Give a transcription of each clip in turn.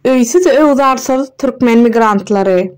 Öýsüz-öwzarsyz türkmen migrantlary.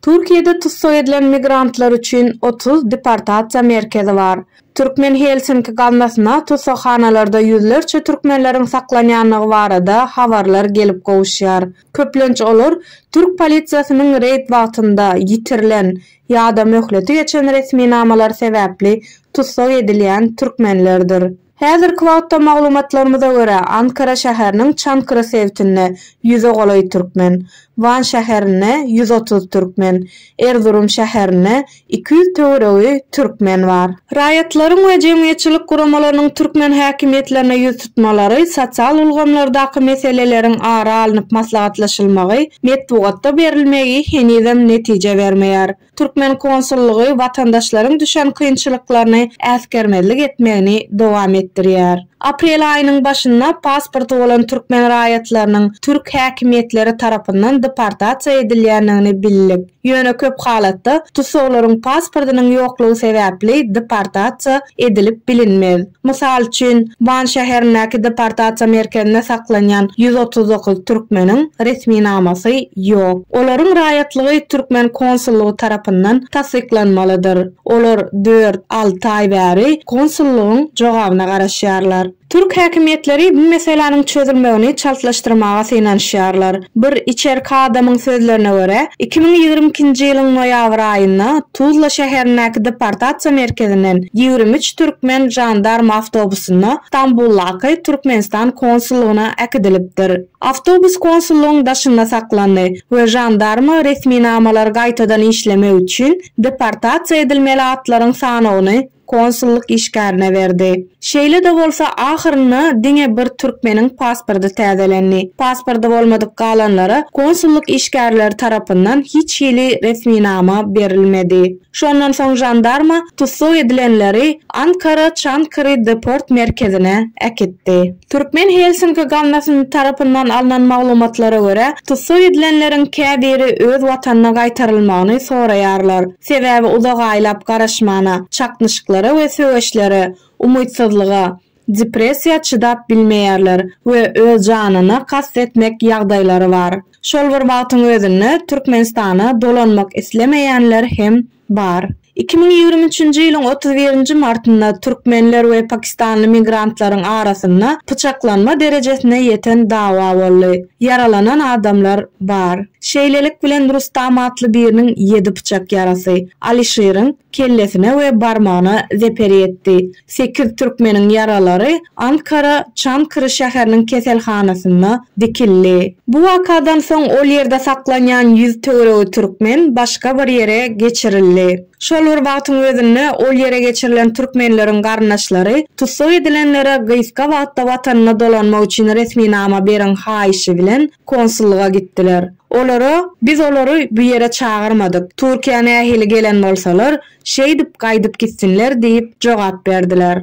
Türkiýede tussag edilen migrantlar üçin otuz deportasiýa merkezi bar. Türkmen Helsinki gaznasyna tussaghanalarda ýüzlerçe türkmenleriň saklanýandygy barada habarlar gelip gowuşýar. Köplenç olar türk polisiýasynyň reýd wagtynda ýitirilen ýa-da möhleti geçen resminamalary sebäpli tussag edilýän türkmenlerdir. Häzirki wagtda maglumatlarymyza görä, Ankara şäheriniň Çankırı sebtinde ýüze golaý türkmen, Wan şäherinde ýüz otuz türkmen, Erzurum şäherinde iki ýüz töweregi türkmen bar. Raýatlaryň we jemgyýetçilik guramalarynyň türkmen häkimiýetlerine ýüz tutmalary, sosial ulgamlardaky meseleleriň ara alnyp maslahatlaşylmagy, metbugatda berilmegi henizem netije bermeýär. Türkmen konsullygy watandaşlaryň düşen kynçylyklaryny äsgermezlik etmegini dowam etdirýär. Aprel aýynyň başynda pasporty bolan türkmen raýatlarynyň türk häkimiýetleri tarapyndan deportasiýa edilýändigini bildik. Ýöne köp halatda tussaglaryň pasportynyň ýoklugy sebäpli deportasiýa edilip bilinmez. Mysal üçin, Wan şäherindäki deportasiýa merkezinde saklanýan ýüz otuz dokuz türkmeniň resminamasy ýok. Olaryň raýatlygy türkmen konsullygy tarapyndan tassyklanmalydyr. Olar dört, alty aý bäri konsullygyň jogabyna garaşýarlar. Türk häkimiýetleri bu meseläniň çözülmegini çaltlaşdyrmaga synanyşýarlar. Bir içerki adamyň sözlerine görä, iki müň ýigrimi ikinji ýylyň noýabr aýynda Tuzla şäherindäki deportasiýa merkezinden ýigrimi üç türkmen žandarm awtobusynda Stambuldaky Türkmenistan konsullygyna äkidilipdir. Awtobus konsullygyň daşynda saklandy we žandarma resminamalary gaýtadan işlemek üçin deportasiýa edilmeli atlaryň sanawyny konsullyk işgärine berdi. Şeýle-de bolsa, ahyrynda diňe bir türkmeniň pasporty täzelendi. Pasporty bolmadyk galanlara konsullyk işgärleri tarapyndan hiç hili resminama berilmedi. Şondan soň žandarma tussag edilenleri Ankara Çankary deport merkezine äkitdi. Türkmen Helsinki gaznasyny tarapyndan alnan maglumatlara görä, tussag edilenleriň käbiri öz watanyna gaýtarylmagyny soraýarlar. Sebäbi uzak aýlap garaşmana, çaknyşyklara we söweşlere, umytsyzlyga, depressiýa çydap bilmeýärler we öz janyna kast etmek ýagdaýlary bar. Şol bir wagtyň özünde Türkmenistana dolanmak islemeýänler hem bar. Iki müň ýigrimi üçünji ýylyň otuz birinji martynda türkmenler we pakistanly migrantlaryň arasynda pyçaklanma derejesine ýeten dawa boldy. Ýaralanan adamlar bar. Şeýlelik bilen Rustam atly biriniň ýedi pyçak ýarasy Alyşiriň kellesine we barmagyna zeper ýetdi. Sekiz türkmeniň ýaralary Ankara Çankry şäheriniň keselhanasynda dikildi. Bu wakadan soň ol ýerde saklanýan ýüz töweregi türkmen başga bir ýere geçirildi. Şol bir wagtyň özünde ol ýere geçirilen türkmenleriň garyndaşlary tussag edilenlere gysga wagtda watanyna dolanmak üçin resminama beriň haýyşy bilen konsullyga gitdiler. Olara, Biz olary bu ýere çagyrmadyk, Türkiýä nähili gelen bolsalar, şeýdip gaýdyp gitsinler diýip jogap berdiler.